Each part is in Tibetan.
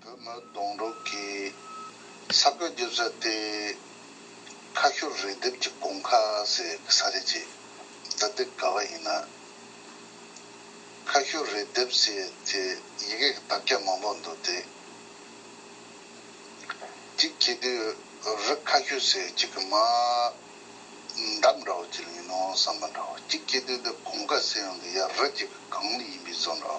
བོད་མི་གདོང་དྲུག་གིས་ས་བགོས་རྒྱུ་ཟེར་ཏེ། ཁ་ཤོར་རེས་འདེབས་ཀྱི་དགོང་ཁ་ཟེར་གི་ས་རེད་ཅེས་རྫ་སྟེ་དགའ་བ་ཡིན་ན། ཁ་ཤོར་རེས་འདེབས་ཟེར་དེ་ཡི་གེ་གི་དག་སྐྱ་མང་པོ་འདུག་སྟེ། གཅིག་གྱེས་དུས་རི་ཁ་ཤོད་ཟེར་གཅིག་གི་མ་འདབ་འདྲ་བོ་གཅིག་ལ་ཡིན་ནོ་བསམ་པ་འདྲ་བོ་གཅིག་གྱེས་དུས་འདི་དགོང་ཁ་ཟེར་ཡང་འདི་ཡར་རི་གཅིག་གི་གངས་མི་ཡིན་པའི་བཟོ་འདྲ་བོ།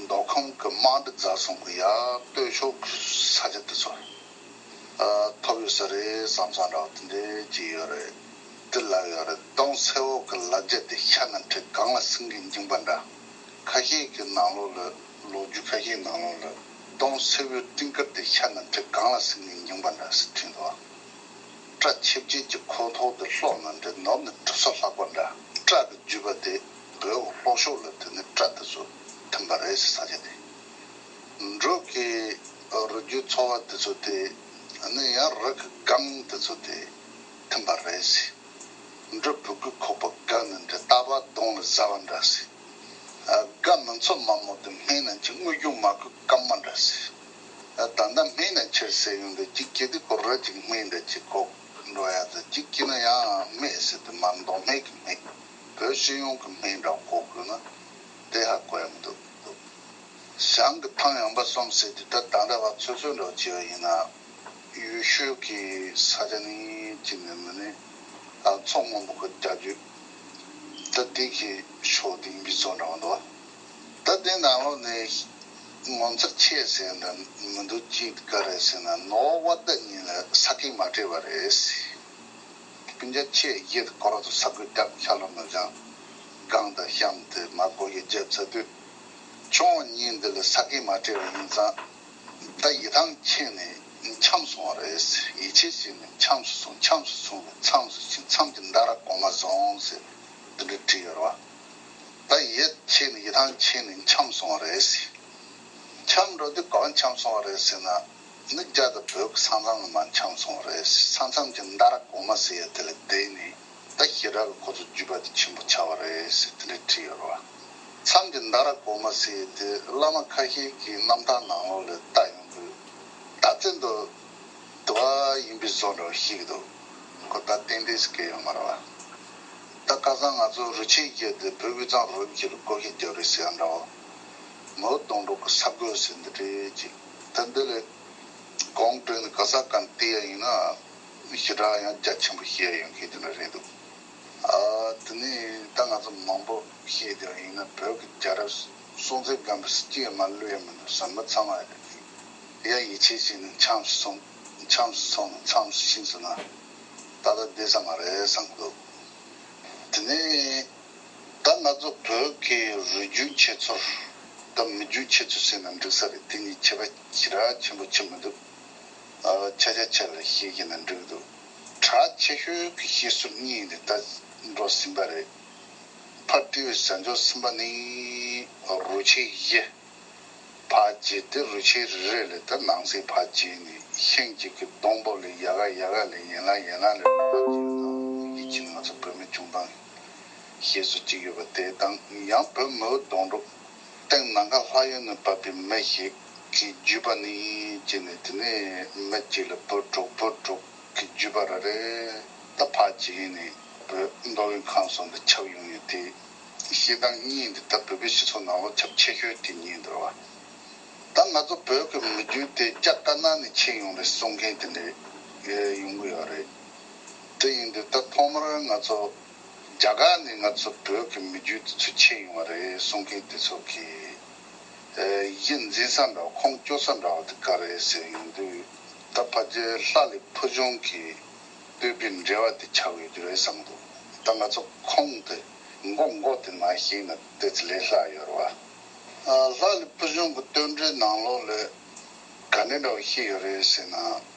མདོ་ཁམས་ཀྱི་དམངས་ཁྲི་རྫ་གསུམ་གྱི་ཡར་སྟོད་ཕྱོགས་ཀྱི་ས་ཆ་དེ་ཚོར་ཐོབ་ཡོད་ས་རེད་བསམ་བསམ་ར་བ་དེ་འདྲས་ཀྱི་ཡོད་རེད་དེ་ལབ་ཡོད་རེད་སྟོང་ཚེ་འོག་གི་ལབ་རྒྱ་དེ་ཤ་ནང་ཁྲི་གང་ལ་སིང་གིས་འགྱིངས་པ་འདྲ་ཁ་ཤས་ཀྱི་ནང་ལོག་ལོད་ལོ་རྒྱུས་ཁ་ཤས་ནང་ལོག་ལོད་སྟོང་ཚེ་བོའི་སྤྲིན་དཀར་དེ་ཤ་ནང་ཁྲི་གང་ལ་སིང་གིས་འགྱིངས་པ་འདྲ་སི་ཁྲིན་དུ་བཀྲ་ཆིབས་རྗེས་ཀྱི་ཁོག་འཐོག་དེ་ལྷོག་ནང་དྲེད་ནོར་ནས་གྲུ་ས་ལྷག་པ་འདྲ་སྐྲག་གི་རྒྱུས་པ་དེ། བོད་འུ་ལྷོ་ཕྱོགས་ལ་དེ་ནི་སྤྲ་དེ་ཚོ་ཐོན་པ་རེད་ཟེར་ས་ཆ་དེ། འབྲོག་གི་རུས་རྒྱུད་ཚོ་བ་དེ་ཚོ་དེ་ནི་ཡང་རག་གི་སྒང་དེ་ཚོ་དེ་ཐོན་པ་རེད་ཟེར། འབྲོག་བུ་གུ་ཁོག་པ་འགའ་ནི་འདྲེ་རྟ་བ་གདོང་ལ་ཟ་བ་འདྲ་ཟེར། དགའ་མིན་ཚོ་དམའ་མོ་དེ་སྨན་རྣམས་ཀྱི་དངུལ་རྒྱུན་མ་ཁུ་སྐམ་མ་འདྲ་ཟེར། ད་ལྟ་སྨན་རྣམས་ཁྱེར་ཟེར་ཡོང་དུས་གཅིག་སྐྱེས་དུས་ཁོ་ར་གཅིག་སྨན་འདྲ་གཅིག་ཁོག་འགྲོ་ཡ་ཟེར་གཅིག་སྐྱེས་ན་ཡང་སྨད་ཟེར་དུས་མར་མདོག་སྨད་གི་སྨད། བོད་སྤྱི་ཡོངས་ཀྱི་སྨན་ཁང་བསྐོ་དགོས་ན་དེ་ཧ་གོ་ཡ་མི་འདུག་བྱང་གི་ཐང་ཡངས་པ་གསུམ་ཟེར་དུས་ད་ད་འདྲ་བ་ཚོད་ཚོད་འདྲ་བ་བྱས་པ་ཡིན་ན་ཡུལ་ཤུལ་གྱི་ས་ཆ་ནི་གཅིག་ནས་མི་ནས་ལྷག་མཚོ་སྔོན་པོ་ཁུལ་རྒྱ་རྒྱུད་ད་དུས་ཀྱི་ཕྱོགས་དེ་ཡིན་པའི་ཚོད་འདྲ་བ་འདུག་ད་དེ་ནང་ལོགས་ནས་ངོ་མཚར་ཆེ་ཟེར་འདྲ་མི་འདུག་ཅི་ག་རེད་ཟེར་ན་ནོར་བ་ད་ཉིད་ལ་ས་ཁེ་མ་སྤྲད་པ་རེད། སྤུན་ཟླ་ཁྱེད་གཞས་དེ་གོ་རོག་དང་ས་གོས་སྐྲག་ཤ་ལོ་ནག་ལྗང་སྒང་དང་གཤམ་དུ་མ་གོ་ཡི་རྒྱབ་ཚ་དུས། ཁྱོད་གཉིས་འདི་ལ་ས་གས་མ་སྤྲད་པ་ཡིན་ཙང། ད་ཡི་ཐང་ཁྱེད་ནས་འཁྱམས་སོང་བ་རེད་ཟེར་ཡིད་ཆེས་བྱས་ནས་འཁྱམས་སུ་སོང་འཁྱམས་སུ་སོང་བས་མཚམས་སུ་ཕྱིན་མཚམས་ཀྱི་མདའ་ར་གོང་མ་བཟུང་ཟེར་འདི་འདྲ་བྲིས་ཡོད་རེད་བ། ད་ཡི་ཁྱེད་ནས་ཡི་ཐང་ཁྱེད་ནས་འཁྱམས་སོང་བ་རེད་ཟེར། འཁྱམས་འགྲོ་དུས་གང་འཁྱམས་སོང་བ་རེད་ཟེར་ན། འདི་རྒྱ་དང་བོད་ཀྱི་ས་མཚམས་ལ་མ་འཁྱམས་སོང་བ་རེད། ས་མཚམས་ཀྱི་མདའ་ར་གོང་མ་ཟེར་ཡ་དེ་ལ་བསྡད་ནས་ད་ཤི་ར་ལ་ཁོ་ཚོ་རྒྱུད་པ་དེ་ཆེན་པོ་ཆགས་པ་རེད་ཟེར་དེ་འདྲས་བྲིས་ཡོད་རེད་བ། མཚམས་ཀྱི་མདའ་ར་གོང་མ་ཟེར་ཡ་དེ་བླ་མ་ཁ་ཤས་ཀྱི་རྣམ་ཐར་ནང་ལོགས་ལས་བལྟ་ཡོང་དུས། ད་བཙན་དུ་དུ་བ་ཡིན་པའི་བཟོ་འདྲ་བ་ཤིག་འདུག་ཁོ་ད་ཏན་ཏན་ཟེར་གི་ཡོད་མ་རེད་བ། ད་སྐལ་བཟང་ང་ཚོ་རུ་ཆེན་བསྐྱལ་ཏེ་བོད་དབུས་གཙང་རུ་བཞི་ལ་བསྐོ་ཤེས་རྒྱབ་རེ་ཟེར་ཡ་འདྲ་བ། མོའུ་གདོང་གྲོག་གི་ས་རྒོད་ཟེར་འདི་འདྲས་ཅིག། དེ་འདི་ལས་གོང་སྤྲོས་ནི་ག་ས་ག་ནས་བལྟས་ཡ་ཡིན་ན་ཞི་དྲག་ཡང་རྒྱ་ཆེན་པོ་ཤེས་ཡ་ཡོད་མཁན་དེ་འདྲ་རེད་འདུག་དེ་ནས་ད་ང་ཚོ་མང་པོ་ཤེས་བསྡད་པ་ཡིན་ན་བོད་ཀྱི་རྒྱལ་རབས་སྲོང་བཙན་སྒམ་པོའི་སྲིད་སྐྱེས་མ་ལུས་ཡ་མི་འདུག་ཟེར་མི་ཚང་མ་རེད་འདུག་ཡ་ཡིད་ཆེས་བྱས་ནས་འཁྱམས་སུ་སོང་འཁྱམས་སུ་སོང་ནས་མཚམས་སུ་ཕྱིན་ཟེར་ན་ད་ལྟ་བསྡད་ས་མ་རེད་བསམ་གྱི་འདུག་དེ་ནས། ད་ང་ཚོ་བོད་ཀྱི་རུས་རྒྱུད་ཁྱེད་ཚོར་དང་མི་རྒྱུད་ཁྱེད་ཚོས་བྱས་ན་འགྲིག་ས་རེད་དེ་གཉིས་ཁྱད་པར་ཅི་ར་ཆེན་པོ་ཆེ་མི་འདུག་ཆ་ཆ་ཆ་ལ་ཤེས་ཀྱི་ན་འགྲིག་འདུག་གྲགས་ཆེ་ཤོས་ཀྱི་ཤེས་སུ་གཉིས་ནི་ད་འགྲོ་ཟིན་པ་རེད་ཕར་བཀྲིས་བས་བྱ་འཇོག་ཟིན་པ་ནི་རུས་ཆེན་བཞི་བ་བརྗེས་ཏེ་རུས་ཆེན་རེ་རེ་ལས་ད་ནང་སའི་བ་བརྗེས་ནས་ཤན་གཅིག་གི་སྡོང་པོ་ལས་ཡ་ག་ཡ་ག་ལས་ཡན་ལག་ཡན་ལག་ལས་རུས་པ་བརྗེས་ན་ཡིད་ཀྱི་ང་ཚོ་བོད་མི་ཆུང་ཐང། ཞེས་སོ་གཅིག་ཡོད་པ་དེ་དང་ཡང་བོད་མི་འུ་གདོང་རུ་སྟེང་ནང་ཁ་ལྷ་གཡོན་ནས་བབས་པའི་མི་ཞིག་གིས་བརྒྱུད་པ་ནི་ཅི་ནས་དེ་ནས་མི་གཅིག་ལ་བོད་དྲུག་བོད་དྲུག་གི་བརྒྱུད་པ་ར་རེ་ད་ཕ་ཇི་ཡིན་ནས་བོད་མདོ་དབུས་ཁམས་སོགས་འདི་ཁྱབ་ཡོང་ཡོད་དེ། ཤེས་སྟངས་གཉིས་འདི་ད་བོད་པའི་སྤྱི་ཚོགས་ནང་ལོ་ཁྱབ་ཆེ་ཤོས་དེ་ཉིད་འདུར་བ། ད་ང་ཚོ་བོད་ཀྱི་མི་རྒྱུད་དེ་སྐྱ་དཀར་ནག་ནས་ཕྱེ་ཡོང་རེད་གསུང་མཁན་དེ་འདྲ་ཡོང་གི་ཡོད་རེད། དེ་ཡིན་དུས་ད་ཐོག་མར་ང་ཚོ་རྒྱ་གར་ནས་ང་ཚོ་བོད་ཀྱི་མི་རྒྱུད་དེ་ཚོ་ཆད་ཡོང་བ་རེད་གསུང་མཁན་དེ་ཚོ་གིས་གཞི་འཛིན་ས་འདྲ་བ་ཁོང་སྐྱོ་ས་འདྲ་བ་དེ་ག་རེད་ཟེར་ཡོང་དུས་ད་ཕ་རྗེ་ལྷ་ལི་ཕུ་ཆུང་གིས་བོད་པའི་འབྲེལ་བ་དེ་ཆགས་ཡོད་རྒྱུ་རེད་བསམ་འདུག་ད་ང་ཚོ་ཁོང་དེ་མགོ་མགོ་དེ་ན་ཞིག་ན་དེ་ཚོ་ལས་ལྷག་ཡོད་རེད་བ། ལྷ་ལི་ཕུ་ཆུང་གི་སྟོན་འབྲས་ནང་ལོགས་ལས་ག་འདྲ་འདྲ་བ་ཤེས་ཡོད་རེད་ཟེར་ན།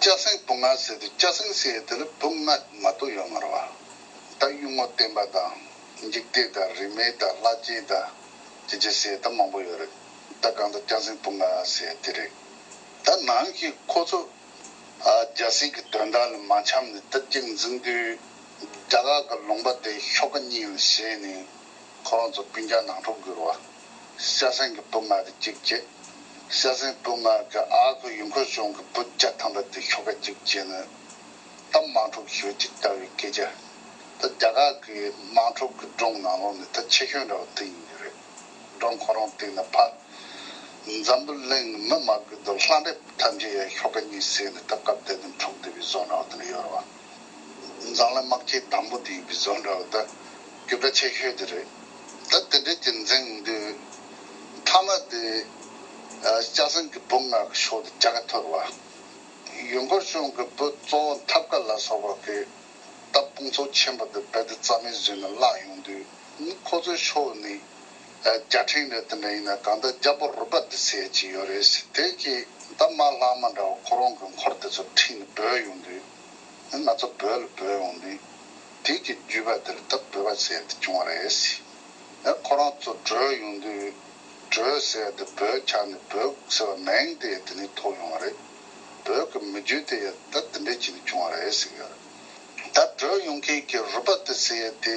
སྐྱ་སེང་སྤུ་ནག་ཟེར་དུས་སྐྱ་སེང་ཟེར་ཡས་དེ་ལ་སྤུ་ནག་མ་གཏོགས་ཡོད་མ་རེད་བ། ད་གཡུ་ངོ་བསྟན་པ་དང་འཇིག་རྟེན་དང་རིས་མེད་དང་ལྷ་སྐྱིད་དང་ཅི་ཅི་ཟེར་ད་མང་པོ་ཡོད་རེད་ད་གང་ལྟར་སྐྱ་སེང་སྤུ་ནག་ཟེར་དེ་རེད། ད་ནང་གི་ཁོ་ཚོ་རྒྱ་སྲིད་ཀྱི་དོན་དག་ལ་མ་འཁྱམས་ནས་སྟབས་ཀྱིས་འཛིང་དུས་རྒྱ་གར་གྱི་ལུང་པ་དེ་ཤོ་ཀ་གཉིས་ལ་བཞེངས་ནས་ཁོ་རང་ཚོ་སྤུན་རྒྱག་ནང་འཁྲུག་བསྒྱུར་བ། ཤ་གཟན་གྱི་བུ་ང་གི་གཅིག་བརྒྱད། ཤ་གཟན་བུ་ང་གི་ཨ་ཁུ་ཡུལ་འཁོར་ཆུང་གི་བུ་བརྒྱ་ཐམ་པ་དེ་ཁྱོ་ག་གཅིག་བརྒྱད་ནི། ད་དམངས་ཕྲུག་ཞོལ་གྱི་རྟ་བའི་སྐད་ཆ། ད་རྒྱ་གར་གྱི་དམངས་ཕྲུག་གི་སྒྲུང་ནང་ལོག་ནས་ད་ཆེ་ཤོས་འདྲ་བ་དེ་ཡིན་གྱི་རེད། སྒྲུང་ཁོ་རང་སྟེང་ནས་ཕར། འཛམ་བུ་གླིང་ནི་མི་མ་བསྐུལ་དུ་ལྷ་འདྲེ་ཐམས་ཅད་ཡ་ཤོ་ཀ་གཉིས་བསད་ནས་ད་སྐབས་དེ་དུས་འཁྲུག་བསྡུས་པའི་བཟོ་འདྲ་བ་དེ་འདྲ་ཡོད་རེད་བ། མཛངས་ལ་དམག་ཁྱི་དང་པོ་དེའི་བི་ཟོ་འདྲ་བོ་ད་རྒྱུ་དྲ་ཆེ་ཤོས་དེ་རེད་ད་དེ་འདྲས་ཀྱི་འཛིང་འདོད་མཐའ་མ་དེ་སྐྱག་ཟན་གྱི་བུ་ང་གི་ཕྱོགས་དེ་ཇག་གི་ཐོད་བ་ཡུལ་འཁོར་གཞུང་གི་བུ་གཙོ་བོ་འཐབ་དཀར་ལ་སོགས་པ་གི་ད་དཔུང་ཚོགས་ཆེན་པོ་དེ་རྦད་དེ་རྩ་མེད་བཟོས་ནས་བརླག་ཡོང་དུས་ཁོ་ཚོའི་ཕྱོགས་ནས། བརྒྱ་ཕྲེང་རེ་དེ་འདྲ་ཡིན་ན་གང་ལྟར་རྒྱ་པོར་རུ་པ་འདི་ཟེར་གྱི་ཡོད་རེད་ཟེར་དེ་གི་ད་མ་ལྷག་མ་འདྲ་བ་ཁོ་རང་གི་འཁོར་དེ་ཚོ་ཁྲིད་ནས་བོས་ཡོང་དུས། ང་ཚོ་བོས་ལ་བོས་ཡོང་ནི། དེ་གི་བརྒྱུད་པ་དེར་ད་བོས་པ་ཟེར་དེ་བྱུང་བ་རེད། ཡང་ཁོ་རང་ཚོ་བྲོས་ཡོང་དུས། བྲོས་ཟེར་དེ་བོས་ཆགས་ནས་བོས་ཟེར་བ་མིང་དེ་ཡང་དེ་ནས་ཐོགས་ཡོང་བ་རེད། བོས་ཀྱི་མི་རྒྱུད་དེ་ཡང་ད་དེ་འདྲས་བྱས་ནས་བྱུང་བ་རེད་ཟེར་གི་ཡོད་རེད། ད་བྲོས་ཡོང་མཁན་གྱི་རུ་པ་དེ་ཟེར་དེ།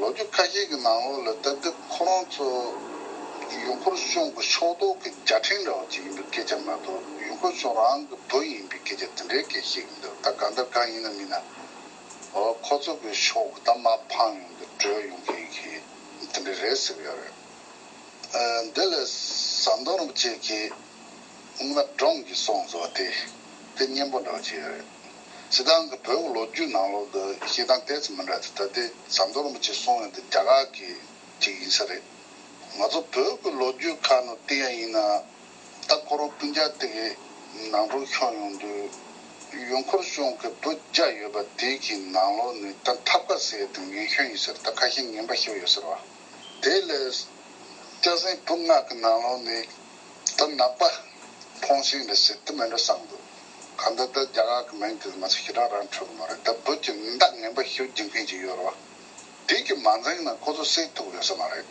ལོ་རྒྱུས་ཁ་ཤས་ཀྱི་ནང་ལོགས་ལ་ལྟ་དུས་ཁོ་རང་ཚོ་ཡུལ་འཁོར་གཞུང་གི་ཕྱོགས་གཏོགས་ཀྱི་བརྒྱ་ཕྲེང་འདྲ་བ་ཅིག་ཡིན་པའི་སྐད་ཆ་མ་གཏོགས་ཡུལ་འཁོར་གཞུང་རང་གི་བུ་ཡིན་པའི་སྐད་ཆ་དེ་འདྲའི་སྐད་བཤད་ཀྱི་འདུག་ད་གང་ལྟར་གང་ཡིན་ན་མིན་ན་འོ་ཁོ་ཚོ་གི་ཕྱོགས་གི་ད་མ་ཕངས་ཡོང་དུ་བྲོས་ཡོང་གི་ཡིན་གྱིས་དེ་འདྲའི་རེད་ཟེར་གྱི་ཡོད་རེད་ཨ་འདི་ལ་ཟམ་གདོང་རིན་པོ་ཆེ་གིས་སྔོན་མ་སྒྲོངས་ཀྱིས་སོང་ཟེར་བ་དེ་དེ་སྙན་པོ་འདྲ་བ་ཅིག་ཡོད་རེད། ཞེ་སྡང་གི་བོད་ཀྱི་ལོ་རྒྱུས་ནང་ལོག་དུ་ཞེ་སྡང་དེ་ཙམ་མི་འདྲ་སྟེ་ད་ལྟའི་ཟམ་གདོང་རིན་པོ་ཆེ་སོང་ཡོང་དེ་རྒྱ་གར་གྱི་ཅིག་ཡིན་ས་རེད། ང་ཚོ་བོད་ཀྱི་ལོ་རྒྱུས་ཁ་ནོར་དེ་ཡང་ཡིན་ནའང་ད་ཁོ་རང་སྤུན་ཆང་དེ་གི་ནང་དྲུག་ཤོང་ཡོང་དུས་ཡུལ་འཁོར་གཞུང་གི་བུ་བརྒྱ་ཡོད་པ་དེ་གི་ནང་ལོག་ནས་ད་འཐབ་ཁ་ཟས་དང་ངན་ཤོས་ཡིན་ཟེར་ད་ཁ་ཞེ་ངན་པ་ཤོས་ཡོད་ཟེར་བ། དེ་ལས་སྐྱ་སེང་བུ་ལྔ་གི་ནང་ལོག་ནས་དུ་ནག་པ། ཕོང་ཤིང་འདི་ཞིག་དུ་མེད་འདྲ་བསམ་དགོས། གང་འདི་དུ་རྒྱ་གར་གྱི་མིང་དེ་ཚོ་ང་ཚོ་ཞེ་དྲག་རང་འཕྲོད་ཀྱི་མ་རེད་དེ་བོད་ཀྱི་མདངས་ངན་པ་ཤིག་སྦྱིན་མཁན་ཞིག་ཡོད་རེད་བ། དེ་གི་མ་འཛིང་ན་ཁོ་ཚོ་སེལ་ཐུབ་ཡོད་ས་མ་རེད།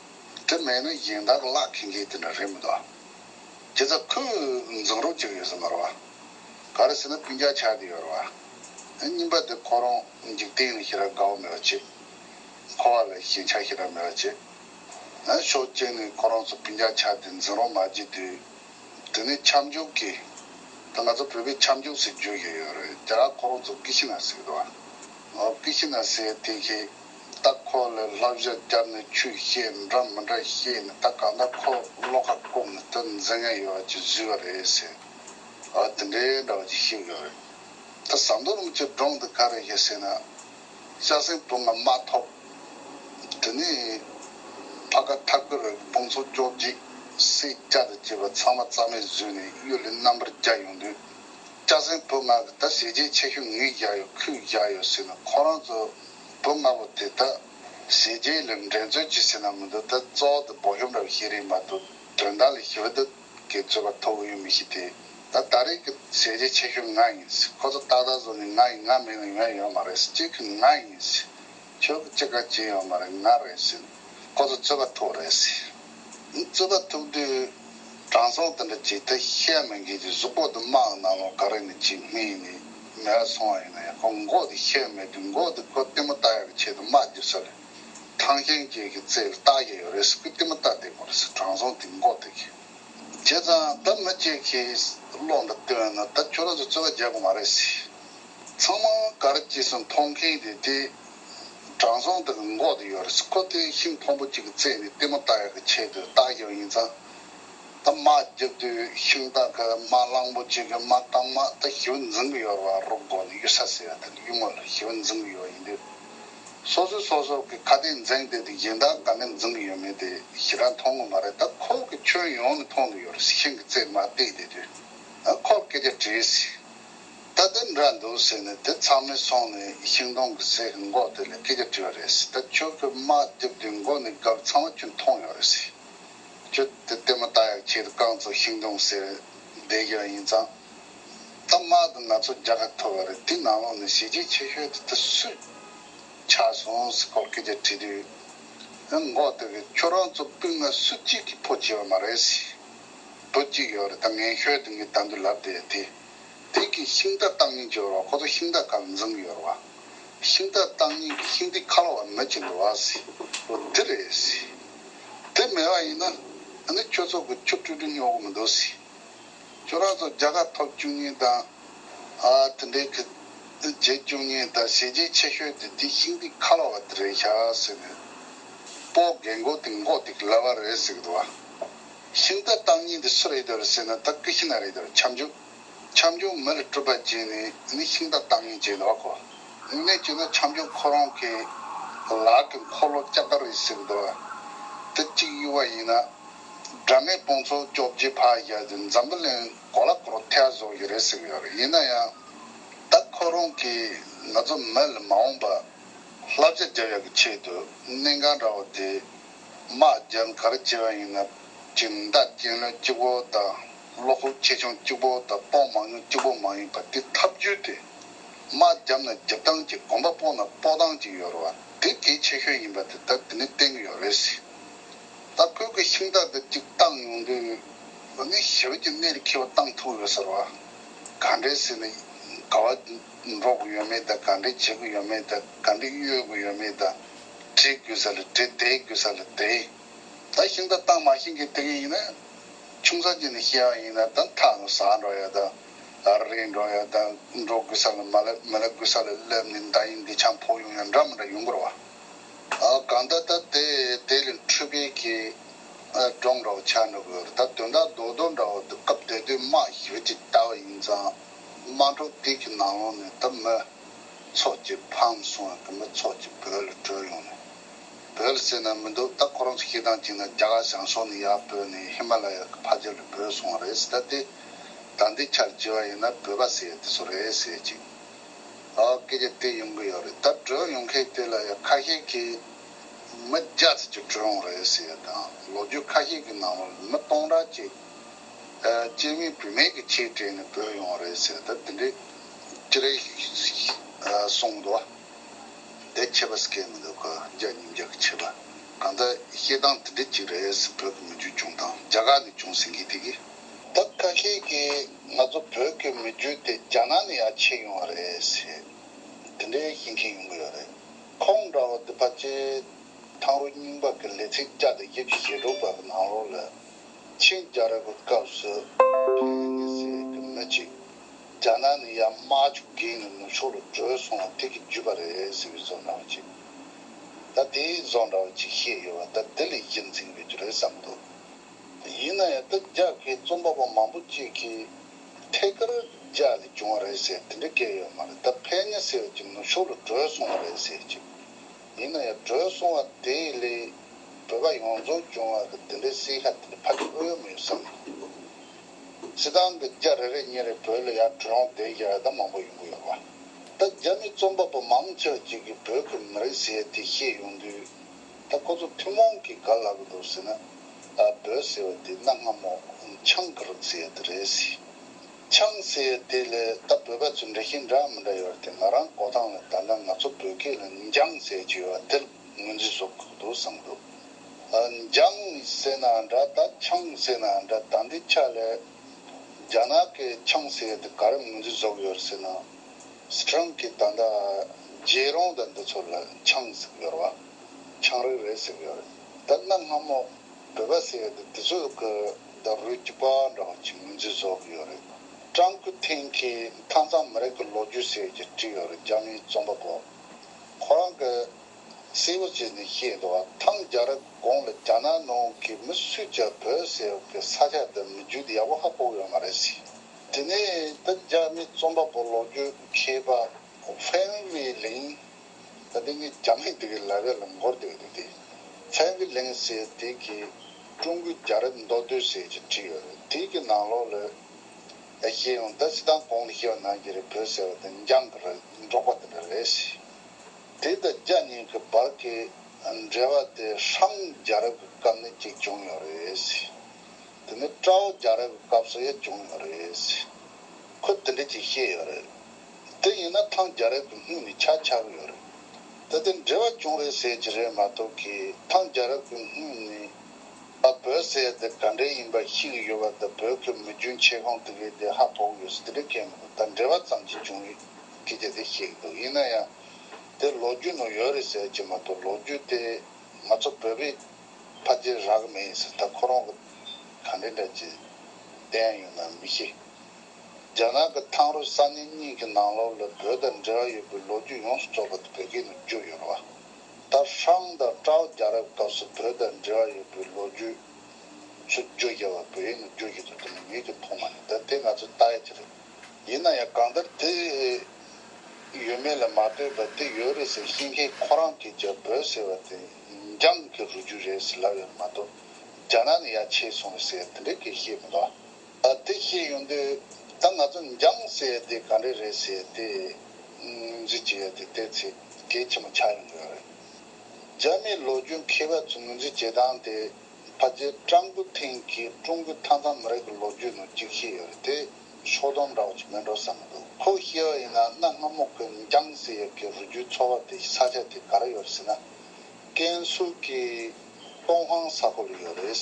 དེ་མེད་ན་གཞན་དག་གི་བརླག་མཁན་གྱི་དེ་འདྲ་རེད་མི་འདུག་བ། དེ་ཚོ་ཁོས་འཛིང་རོགས་བྱེད་ཀྱི་ཡོད་ས་མ་རེད་བ། ག་རེ་ཟེར་ན་བུན་རྒྱག་ཆགས་ཀྱི་ཡོད་རེད་བ། གཉིས་པ་དེ་ཁོ་རང་འཇིག་རྟེན་ལ་ཞེ་དྲག་དགའ་བོ་མེད་པ་བྱེད། འཁོར་བ་ལ་ཞེན་ཆགས་ཞེ་དྲག་མེད་པ་བྱེད། ན་ཤོག་བཅད་ནས་ཁོ་རང་ཚོ་བུན་རྒྱག་ཆ་དེ་འཛིན་རོགས་མ་བགྱིད་དུས། དེ་ནི་ཁྱབ་འཇུག་གི། དེ་ང་ཚོ་བོད་པའི་ཁྱབ་འཇུག་ཟེར་རྒྱུ་ཡི་ཡོད་རེད་རྒྱ་གར་ཁོ་རང་ཚོ་ཀི་ཤི་ན་སེ་གི་རེད། ཨོ་ཀི་ཤི་ན་སེ་དེ་ཤེས། ད་ཁོ་ལས་ལྷ་བཞག་བརྒྱབ་ནས་ཆུ་བཤལ་འདྲ་མི་འདྲ་བཤལ་ནས་ད་གང་ལྟར་ཁོ་བློ་ཁ་བཀུམ་ནས་དེ་འཛིན་མཁན་ཡོད་བ་ཅིག་བཟོས་བ་རེད་ཟེར། ཨོ་དེ་འདྲའི་འདྲ་བ་ཅིག་ཤེས་གི་ཡོད་རེད། ད་ཟམ་གདོང་རིན་པོ་ཆེ་སྒྲུང་འདི་ག་རེ་ཞིག་ཟེར་ན། ཤ་སྲིན་བུ་ལྔ་མ་ཐོབ། དེ་ནས་བྷ་ག་ཐ་གུ་རུའི་དཔུང་ཚོགས་སྐྱོགས་འགྱིག་སེ་སྐྱ་དང་བཅས་པ་ཚང་མ་རྩ་མེད་བཟོས་ནས་གཡུ་ལི་རྣམ་པར་རྒྱག་ཡོང་དུས། ཤ་སྲིན་བུ་ལྔ་གིས་ད་ཞེ་ཅན་ཆེ་ཤོས་ངས་བཞག་ཡོད་ཁོས་བཞག་ཡོད་ཟེར་ནས་ཁོ་རང་ཚོ་བུ་ལྔ་པོ་དེ་ད་ཞེ་ཅན་ལས་འགྲན་རྩོད་བྱེད་སྲིད་ན་མི་འདུག་ད་གཙོ་བོ་དེ་འབོ་ཤོམ་ར་བའི་ཤེས་རིག་མ་གཏོགས་དོན་དག་ལ་ཞི་བདེ་གི་རྩོད་པ་ཐོག་གི་ཡུལ་མི་ཞིག་དེ་ད་ད་རེས་ཀྱི་ཟས་རྗེས་ཆེ་ཤོས་ང་ཡིན་སྲིད་ཁོ་ཚོ་ཏག་ཏག་བཟོ་ནས་ང་ཡིན་ང་མེད་ན་ཡོང་ཡ་ཡོད་མ་རེད་སྲིད་གཅིག་གི་ང་ཡིན་སྲིད་ཁྱོད་ཀྱི་ཅི་ག་བྱེད་ཡོད་མ་རེད་ང་རེད་སྲིད་ཁོ་ཚོ་རྩོད་པ་ཐོག་རེད་སྲིད་རྩོད་པ་ཐོག་དུས་དྲང་སྲོང་དེ་འདྲ་བྱེད་ཐ་ཤལ་མི་འགལ་གྱི་གཟུགས་པོ་དུ་དམག་གི་ནང་ལོག་ག་རེ་ནས་ཅིག་སྨྲས་ནས་མེད་ལ་སོང་བ་ཡིན་ན་ཡང་ཁོ་མགོ་དེ་ཤལ་མེད་དུས་མགོ་དེ་ཁོ་ལྟད་མོ་ལྟ་ཡག་གི་ཆེད་དུ་དམག་བརྒྱུད་ས་རེད། ཐང་ཁྱེན་རྒྱལ་གྱི་རྩེར་རྟགས་བརྒྱད་ཡོད་རེད་ཟེར་བུ་གཏི་མུག་ལྟ་བདེ་མོ་རེད་ཟེར་དྲང་སྲོང་དེ་མགོ་བཏེགས། བྱས་ཙང་ད་མི་བཅས་ཁྱེད་བློ་འདྲ་བཏོན་ན་ད་ཁྱོད་རང་ཚོ་རྩོད་པ་རྒྱག་གི་མ་རེད་ཟེར། ཚང་མ་གར་སྐྱེས་སུ་མཐོང་མཁན་གྱི་དེ་དྲང་སྲོང་དེ་གི་མགོ་དེ་ཡོད་རེད་ཟེར་ཁོ་དེ་ཤིང་ཕོང་པོ་གཅིག་གི་རྩེ་ནས་གཏི་མུག་ལྟ་ཡག་གི་ཆེད་དུ་རྟགས་བརྒྱབ་ཡིན་ཙང། ད་མ་བརྒྱབ་དུས་ཤིང་རྟ་གི་མ་གླང་པོ་གཅིག་གི་མ་རྐང་མ་ད་ཤི་བོ་འཛིང་གི་ཡོད་རེད་བ་རོགས་མགོ་ནས་གཡུལ་ས་ཟེར་ཡ་དེ་གི་གཡུལ་ངོ་ལ་ཤི་བོ་འཛིང་གི་ཡོད་ཡིན་དུས། སོ་སོས་སོ་སོ་གི་ཁ་གཏད་འཛིངས་བསྡད་དེ་གཞན་དག་ག་ནས་འཛིངས་གི་ཡོད་མེད་དེ་ཞེ་དྲག་མཐོང་གི་མ་རེད་ད་ཁོག་གི་ཁྱོན་ཡོངས་ནས་མཐོང་གི་ཡོད་རེད་ཤིང་གི་རྩེ་མ་བཏེགས་བསྡད་དུས་ཁོར་སྐད་ཆ་དྲིས་སྲིད་ད་དེ་འདྲ་འདུག་ཟེར་ནས་དེ་ཚང་མས་སོང་ནས་ཤིང་སྡོང་གི་ཟས་ཀྱི་མགོ་དེ་ལས་སྐད་ཆ་དྲིས་བ་རེད་ཟེར་ད་ཁྱོད་ཀྱི་དམག་བསྡེབས་དུས་མགོ་ནས་གབ་ཚང་བ་ཁྱོད་མཐོང་ཡོད་རེད་ཟེར་ཁྱོད་དེ་བལྟས་མ་ད་ཡག་ཁྱེད་རྐང་ཚོ་ཤིང་སྡོང་ཟས་རེད་བསྡད་ཀྱི་རང་ཡིན་ཙང། ད་མ་གཏོགས་ང་ཚོ་རྒྱ་གར་ཐོར་བ་རེད་དེ་ནང་ལོག་ནས་ཞེ་ཅིག་ཆེ་ཤོས་དེ་ད་སུས་ཆགས་སོང་ཟེར་སྐོར་སྐད་ཆ་དྲིས་དུས། འགོ་བསྟོད་པའི་ཁྱོད་རང་ཚོ་སྤུན་ལྔ་སུ་གཅིག་གིས་ཕོ་བྱེད་པ་མ་རེད། བུ་གཅིག་ཡོད་རེད་ད་ངན་ཤོས་དེ་ངས་ད་འདི་ལབ་བསྡད་དེ། དེ་གིས་ཤིང་རྟ་བཏགས་ཉིན་གྱི་ཡོར་བ་ཁོ་ཚོ་ཤིང་རྟ་གང་འཛིང་གི་ཡོར་བ། ཤིང་རྟ་བཏགས་ཉིན་གྱི་ཤིང་རྟའི་ཁ་ལོ་བ་མི་གཅིག་འགྲོ་བ། ལོ་འདི་རེད། དེ་མེད་པ་ཡིན་ན། ད་ནི་ཁྱོད་ཚོ་དགུ་ཁྱོ་སྤྲུལ་སྤྲུལ་ཉོ་གི་མི་འདུག། ཁྱོད་རང་ཚོ་རྒྱལ་ཁ་ཐོབ་བཅུག་ཉིན་དང། དེ་འདྲའི་གི་རྗེས་བཅུག་ཉིན་དང་བྱས་རྗེས་ཆེ་ཤོས་དེ་འདི་ཤིང་ཏིག་ཁ་ལ་བ་དེ་རེད་ཤག་ཟེར་ནས། སྤོ་རྒན་མགོ་དེ་མགོ་ཏིག་ལ་བ་རེད་ཟེར་གི་འདུག་བ། ཤིང་རྟ་བཏང་ཉིན་དེ་སུ་རེད་འདོད་ཟེར་ན་ད་ཀི་ཤི་ན་རེད་འདོད་ཁྱབ་འཇུག། ཁྱབ་འཇུག་མི་རེ་སྤྲུལ་པ་བྱས་ནས་ནི་ཤིང་རྟ་བཏང་ཉིན་བྱས་འདུག་བ་ཁོ། དངོས་གནས་བྱས་ན་ཁྱབ་འཇུག་ཁོ་རང་གི་ལག་གི་འཁོར་ལོ་ལྕགས་དར་རེད་ཟེར་གི་འདུག་བ། དེ་གཅིག་ཡུ་བ་ཡིན་ན། སྒྲ་མེད་དཔུང་ཚོགས་སྐྱོབ་རྒྱུའི་ཕ་རྒྱལ་དེ་འཛམ་བུ་གླིང་གོ་ལ་སྐོར་ཐལ་བཟོ་གི་རེད་ཟེར་གི་ཡོད་རེད་ཡིན་ན་ཡང་ད་ཁོ་རང་གིས་ང་ཚོ་མི་ལ་མ་འོངས་པ་བསླབ་བྱ་རྒྱབ་ཡག་གི་ཆེད་དུ་གནད་འགང་འདྲ་བོ་དེ་དམག་རྒྱལ་གར་བྱེད་པ་ཡིན་ན་ཅིག་མདའ་རྐྱེན་ལོན་སྐྱིད་པོ་དང་བློ་ཁོག་ཆེ་ཆུང་སྐྱིད་པོ་དང་དཔོག་མང་ཉུང་སྐྱིད་པོ་མ་ཡིན་པ་དེ་ཐབས་བརྒྱུད་དེ་དམག་རྒྱབ་ན་རྒྱབ་སྟངས་ཀྱི་གོམ་པ་སྤོ་ན་སྤོ་སྟངས་ཀྱི་ཡོད་རེད་བ་དེ་གལ་ཆེ་ཤོས་ཡིན་པ་དེ་ད་དེ་ནས་བསྟན་གི་ཡོད་རེད། ད་བོད་ཀྱི་ཤིང་རྟ་འདི་གཅིག་བཏང་ཡོང་དུས་བོད་མི་ཞི་བ་གྱི་གནས་རི་ཁེ་བ་བཏང་ཐུབ་ཡོད་ཟེར་བ། ག་འདྲའི་སྲིད་ལ་ག་བ་འགྲོ་གི་ཡོད་མེད་དང་ག་འདྲའི་བྱེད་ཀྱི་ཡོད་མེད་དང་ག་འདྲའི་གཡོལ་གྱི་ཡོད་མེད་དང་བྲིས་དགོས་ས་ལ་བྲི་བསྡད་དགོས་ས་ལ་བསྡད། ད་ཤིང་རྟ་བཏང་མ་ཤིང་གི་དེ་ག་ཡིན་ན་ཆུང་ས་ཅིག་ནས་ཤེས་ཡ་ཡིན་ན་ད་མཐའ་ལ་ཟ་འགྲོ་ཡ་དང་རེད་འགྲོ་ཡ་དང་འགྲོ་དགོས་ས་ལ་མ་ལ་མི་ལ་དགོས་ས་ལ་སླེབས་ནས་མདའ་ཡིན་འདི་ཆང་ཕོག་ཡོང་ཡ་འདྲ་མི་འདྲ་ཡོང་དགོས་ར་བ། གང་ད་ད་དེ་དེ་ལས་འཕྲུལ་དཔེ་གྱིས་བགྲང་འདྲ་བོ་ཆགས་འདྲ་བོ་ད་དོན་དག་རྡོག་རྡོག་འདྲ་བོ་འདུག་སྐབས་དེ་དུས་དམག་ཞུགས་ཅིག་ལྟ་བ་ཡིན་ཙང་དམག་འཕྲོག་དུས་ཀྱི་ནང་ལོག་ནས་ད་མི་ཚོགས་ཀྱིས་ཕམ་སོང་བས་ད་མི་ཚོགས་ཀྱིས་བོད་ལ་བྲོས་ཡོང་ནས་བོད་ལ་བསད་ན་མི་འདུག་ད་ཁོ་རང་ཚོ་ཤེས་སྟངས་གཅིག་ན་རྒྱ་གར་བྱང་ཕྱོགས་ནས་ཡར་བོས་ནས་ཧི་མ་ལ་ཡ་གི་ཕ་རྒྱལ་ལ་བོས་སོང་བ་རེད་ཟེར་ད་དེ་ད་འདི་ཆར་བྱིས་བ་ཡིན་ན་བོས་པ་ཟེར་དེ་ཚོ་རེད་ཟེར་ཅིག། སྐད་ཆ་སྤེལ་ཡོང་གི་ཡོད་རེད་ད་བགྲོས་ཡོང་མཁན་དེ་ལ་ཡང་ཁ་ཤས་ཀྱིས་མི་བརྒྱ་ཙམ་གྱིས་བགྲོས་འོང་རེད་ཟེར་ཡོད་ཀྱང་ལོ་རྒྱུས་ཁ་ཤས་ཀྱི་ནང་ལོར་མི་སྟོང་ཕྲག་གཅིག་སྤྱིར་མིང་བུད་མེད་ཀྱི་ཆེད་སྤྲད་ནས་བོས་ཡོང་རེད་ཟེར་ད་དེ་འདྲའི་ཅི་རེད་གསུངས་འདུག་དེ་ཆད་པ་སྐད་མི་འདུག་རྒྱ་ཉིན་རྒྱ་གི་ཆད་པ་གང་ལྟར་བཤད་སྟངས་དེ་འདྲའི་ཅིག་རེད་བོད་ཀྱི་མི་རྒྱུད་བྱུང་དང་རྒྱ་གར་ནས་བྱུང་ཟེར་མཁན་དེ་གིས། ད་ཁ་ཤས་ཀྱིས། ང་ཚོ་བོད་སྐད་མི་བརྗོད་དེ་རྒྱ་ནག་ནས་ཡར་ཕྱིན་ཡོང་བ་རེད་ཟེར། དེ་འདྲའི་ཞེན་མཁན་ཡོང་གི་ཡོད་རེད། ཁོང་འདྲ་བ་འདི་ཕ་ཅེ། ཐང་རུ་རྙིང་པ་གི་ལས་ཚིགས་བཅའ་དེ་དབྱིབས་ཀྱི་ཞེ་དྲུག་པ་གི་ནང་རོ་ལ། ཆིན་རྒྱ་རི་བའི་སྐབས་སུ། ཕན་ནི་སེར་གི་མི་གཅིག། རྒྱ་ནག་ནས་ཡར་དམག་ཆུ་འགེངས་ནས་ནུབ་ཕྱོགས་ལ་བྲོས་སོང་བ་དེ་གི་བརྒྱུད་པ་རེད་ཟེར་བའི་བཟོ་འདྲ་བ་ཅིག། ད་དེའི་བཟོ་འདྲ་བ་ཅིག་བཤད་ཡོད་བ་ད་དེ་ལས་གཞི་འཛིན་ཡོད་རྒྱུ་རེད་བསམ་འདུག། ཡིན་ན་ཡང་འདི་རྒྱ་གའི་རྩོམ་པ་པོ་མང་པོ་གཅིག་གིས་ཐད་ཀར་རྒྱ་ལས་བྱུང་བ་རེད་ཟེར་དེ་འདྲ་སྐད་ཡོད་མ་རེད་ད་ཕན་ཉེ་ཟེར་བ་གྱི་ནུབ་ཕྱོགས་ལ་བྲོས་སོང་བ་རེད་ཟེར་གྱི། ཡིན་ན་ཡང་བྲོས་སོང་བ་དེ་ལས་བོད་པ་ཡོངས་རྫོགས་བྱུང་བ་གི་དེ་འདྲའི་སྲིད་ཁ་དེ་འདྲ་ཕ་གི་ཨོ་ཡོད་མ་ཡོད་བསམ་གྱི། སྲིད་ཏང་གི་རྒྱ་རེ་རེ་གཉིས་རེ་བོད་ལ་ཡར་བྲོས་འོང་བསྡད་ཀྱི་རེད་ད་མང་པོ་ཡོང་གི་ཡོད་པ། ད་རྒྱ་མི་རྩོམ་པ་པོ་མང་ཆེ་བ་གཅིག་གིས་བོད་ཀྱི་མི་རིགས་ཟེར་དེ་བཤད་ཡོང་དུས། ད་ཁོ་ཚོ་ཐུན་མོང་གིས་ག་ལ་གི་འདུག་ཟེར་ན། བོད་ཟེར་བ་དེ་གནའ་སྔ་མོ་ཆང་གི་རིགས་ཟེར་ཡ་དེ་རེད་ཟེར། ཆང་ཟེར་ཡ་དེ་ལས་ད་བོད་པ་ཚོས་འདྲ་ཤེས་འདྲ་མི་འདྲ་ཡོད་རེད་དེ་ང་རང་གོ་སྟངས་ལ་ད་ནི་ང་ཚོ་བོད་སྐད་ལ་འཇང་ཟེར་གྱི་ཡོད་བ་དེར་ངོས་འཛིན་བཟོ་དགོས་ཀྱི་འདུག་བསམ་གི་འདུག། འཇང་ཟེར་ནའང་འདྲ་ད་ཆང་ཟེར་ནའང་འདྲ་ད་འདི་ཆ་ལས། རྒྱ་ནག་གིས་ཆང་ཟེར་ཡ་དེ་ག་རེ་ངོས་འཛིན་བཟོ་གི་ཡོད་རེད་ཟེར་ན། ཁྲང་གིས་ད་ལྟ་རྗེས་རོང་དང་འདི་ཚོ་ལ་ཆང་ཟིག་ཡོད་རེད་བ། ཆང་རེ་རེ་ཟིག་ཡོད་རེད་ད་གནའ་སྔ་མོ་བོད་པ་ཟེར་ཡས་དེ་དེ་ཚོས་ཀི་ད་རུས་ཀི་པ་འདྲ་བ་གྱི་ངོས་འཛིན་བཟོ་གི་ཡོད་རེད། ཀྲང་སྐུ་ཐེང་གིས་མཐའ་མཚམས་མི་རིགས་ཀི་ལོ་རྒྱུས་ཟེར་གྱི་བྲིས་ཡོད་རེད་རྒྱ་མིའི་རྩོམ་པ་པོ་ཁོ་རང་གི་སེ་བོ་ཅི་ནས་ཤེས་འདུག་བ་ཐང་རྒྱ་རི་གོང་ལ་རྒྱ་ནག་ནང་གི་མི་སུས་ཀྱང་བོད་ཟེར་བ་གི་ས་ཆ་འདི་མི་རྒྱུད་ཡག་པོ་ཧ་གོ་གི་ཡོད་མ་རེད་ཟེར། དེ་ནས་བོད་རྒྱ་མི་རྩོམ་པ་པོ་ལོ་རྒྱུས་མཁས་པ་ཧྥན་ཝི་ལིང། ད་ལྟའི་ངའི་རྒྱ་མིའི་སྡེ་གི་ལྭ་བས་ལ་མགོར་སྡེ་བའི་དུས་དེ། ཧྥན་ཝི་ལིང་ཟེར་དེ་གིས་ཀྲུང་གོའི་རྒྱ་རིགས་མདོ་སྟོད་ཟེར་གྱིས་བྲིས་ཡོད་རེད་དེ་གི་ནང་ལོག་ལོས་ཨེ་ཤེས་ཡོང་ད་སི་ཐང་གོང་ལ་ཤེས་པ་ནང་གི་རེད་བོད་ཟེར་བ་དེ་འགྱངས་གི་རེད་འབྲོག་པ་དེ་འདྲ་རེད་ཟེར་དེ་ད་རྒྱ་གཉིས་ཀི་བར་གི་འབྲེལ་བ་དེ་ཧྲང་རྒྱ་རབས་གི་སྐབས་ནས་གཅིག་བྱུང་ཡོད་རེད་ཟེར། དེ་ནི་བཀྲ་བྷོ་རྒྱ་རབས་ཀྱི་སྐབས་སུ་ཡང་བྱུང་ཡོད་རེད། ཁོས་དེ་འདྲ་ཅིག་བཤད་ཡོད་རེད། དེ་ཡིན་ན་ཐང་རྒྱ་རབས་ཀྱི་སྔུན་ནས་ཆ་ཆགས་ཡོད་རེད། ད་དེ་འབྲེལ་བ་བྱུང་རེད་ཟེར་གྱི་རེད་མ་གཏོགས་གི་ཐང་རྒྱ་རབས་ཀྱི་སྔུན་ནས་ཨ་བོད་ཟེར་དེ་ག་འདྲས་ཡིན་པ་ཤེས་གི་ཡོད་པ་དང་བོད་ཀྱི་མི་རྒྱུན་ཆད་གང་དེ་གས་དེ་ཧ་ཕོག་ཡོད་ཟེར་དེ་འདྲས་སྐད་མི་འདུག་ད་འབྲེལ་བ་ཙམ་གྱིས་བྱུང་རེད་ཀྱི་དེ་དེ་བཤད་གི་འདུག་ཡིན་ན་ཡང་དེ་ལོ་རྒྱུས་ནང་ཡོད་རེད་ཟེར་གྱི་མ་གཏོགས་ལོ་རྒྱུས་དེ་ང་ཚོ་བོད་པའི། ཕ་རྒྱལ་རག་མེད་ཡིན་ཟེར་ད་ཁོ་རང་གི་ག་འདྲའི་འདྲ་ཇི་བདེན་ཡོད་ན་མི་ཤེས། རྒྱ་ནག་གི་ཐང་རུ་ས་གནས་གཉིས་ཀྱི་ནང་ལོག་ལ་བོད་དང་འབྲེལ་བ་ཡོད་པའི་ལོ་རྒྱུས་ཡོངས་སུ་རྫོགས་པ་དེ་བོད་སྐད་ནས་བསྒྱུར་ཡོད་རེད་བ། ད་ཧྲང་དང་ཀྲའོ་རྒྱ་རབ་སྐབས་སུ་བོད་དང་འབྲེལ་བ་ཡོད་པའི་ལོ་རྒྱུས་སུ་བརྗོད་རྒྱ་བ་བོད་ཡིག་ནས་བསྒྱུར་གྱི་འདུག་དེ་ནི་ངེད་ཀྱིས་མཐོང་མ་རེད་ད་དེ་ང་ཚོའི་ཏཱའི་དེ་རེད། ཡིན་ན་ཡང་གང་ལྟར་དེ་ཡོད་མེད་ལ་མ་ལྟོས་པར་དེ་ཡོད་རེད་ཟེར་ཤེས་མཁན་ཁོ་རང་གིས་ཀྱང་བོད་ཟེར་བ་དེ། འཇམ་གྱི་རུ་རྒྱུད་རེད་ཟེར་ལབ་ཡོད་མ་གཏོགས་རྒྱ་ནག་ནས་ཡར་ཆས་སོང་ཟེར་དེ་འདྲའི་སྐད་བཤད་མི་འདུག་ཨ། དེ་བཤད་ཡོང་དུས་ད་ང་ཚོ་འཇམ་ཟེར་དེ་ག་འདྲ་རེད་ཟེར་དེ་ངོས་འཛིན་བྱེད་ཡོད་དེ་བལྟས་ཚེ་གལ་ཆེན་པོ་ཆགས་ཡོང་གི་ཡོད་རེད། རྒྱ་མིའི་ལོ་རྒྱུས་མཁས་པ་ཚོས་ངོས་འཛིན་བྱེད་སྟངས་དེ་ཕ་རྗེས་ཀྲང་ཀུན་ཐིང་གིས་ཀྲུང་གོའི་མཐའ་མཚམས་མི་རིགས་ཀྱི་ལོ་རྒྱུས་ནང་གཅིག་བཤད་ཡོད་རེད་དེ། ཕྱོགས་སྡོམ་འདྲ་བ་ཅིག་མིན་འགྲོ་བསམ་མི་འདུག་ཁོ་ཤེས་ཡོད་ཡིན་ན་གནའ་སྔ་མོ་ཁོའི་མི་རྐྱང་ཟེར་ཡབ་ཀྱི་རུས་རྒྱུད་ཚོ་བ་དེ་ས་ཆ་དེ་ག་རེ་ཡོད་རེད་ཟེར་ན། ཀན་སུའུ་ཀི་ཏོང་ཧང་ས་ཁོ་ལ་ཡོད་རེད།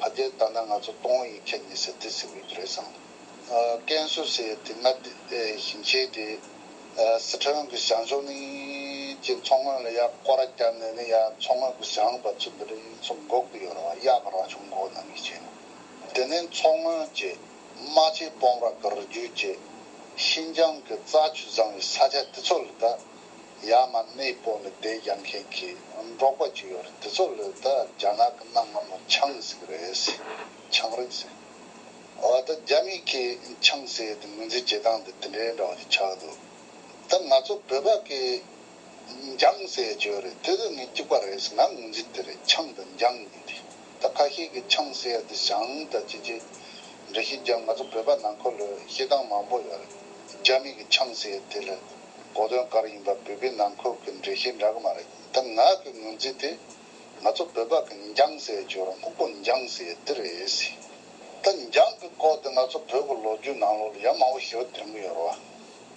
ཕ་རྒྱལ་ད་ནི་ང་ཚོ་ཏོང་ཡིག་ཁྱད་ཉེ་ཟེར་དུས་ཟེར་བའི་རྒྱུ་རེད་བསམ། ཀན་སུའུ་ཟེར་ཡོད་དུས་ང་ཞིང་ཆེན་དེ་སི་ཁྲོན་གྱི་ཞང་ཞུང་ནི་ཅེས་མཚོ་སྔོན་ལ་ཡག་སྐོར་བརྒྱབ་ནས་ནི་ཡ་མཚོ་སྔོན་གྱི་ཞང་པ་ཚོ་འདི་འདྲ་ཡིན་ཚོ་འགོག་གི་ཡོད་རེད་བ་ཡག་རང་བྱུང་འགོག་གནང་གི་བྱས་ན་དེ་ནས་མཚོ་སྔོན་གྱི་རྨ་ཆས་སྤོམ་ར་ཀར་རྒྱུད་བཅས་ཤིན་ཅང་གི་རྩྭ་ཆུ་བཟང་བའི་ས་ཆ་དེ་ཚོ་ལ་ད་ཡ་མ་གནས་སྤོ་ནས་བསྡད་རྒྱག་མཁན་གྱི་འབྲོག་པ་ཅིག་ཡོད་རེད་དེ་ཚོ་ལ་ད་རྒྱ་ནག་གི་གནའ་སྔ་མོ་ཆང་ཟིག་རེད་ཆང་རིགས་ཟེར་བ་ད་རྒྱ་མིག་གིས་ཆང་ཟེར་ཏེ་ངོས་འཛིན་བྱེད་སྟངས་དེ་དེ་འདྲའི་འདྲ་བ་ཞིག་ཆགས་འདུག་ད་ང་ཚོ་བོད་པ་གིས་འཇང་ཟེར་རྒྱུ་རེད་དེ་ལས་ངས་སྐྱུག་པ་རེད་ཟེར་ན་ངོས་འཛིན་དེ་རེད་འཆང་དང་འཇང་གཉིས་དེ་ད་ཁ་ཤས་ཀྱི་འཆང་ཟེར་ཡ་དེ་ཞང་དང་ཅི་ཅི་འདྲ་ཤེས་འཇང་ང་ཚོ་བོད་པ་ནང་འཁོར་ལོས་ཤེས་སྟངས་མང་པོ་ཡོད་རེད་རྒྱ་མི་གི་འཆང་ཟེར་དེ་ལས་གོ་དོན་གར་ཡིན་པ་བོད་པའི་ནང་འཁོར་གི་འདྲེ་ཤེས་འདྲ་གི་མ་རེད་ད་ང་གི་ངོས་འཛིན་དེ་ང་ཚོ་བོད་པ་གི་འཇང་ཟེར་རྒྱུ་རང་ལྐུག་པོ་འཇང་ཟེར་དེ་རེད་ད་འཇང་གི་སྐོར་དེ་ང་ཚོ་བོད་གི་ལོ་རྒྱུས་ནང་ལོག་ལ་ཡ་མང་པོ་ཞིག་ལ་དོན་གི་ཡོད་རེད་བ།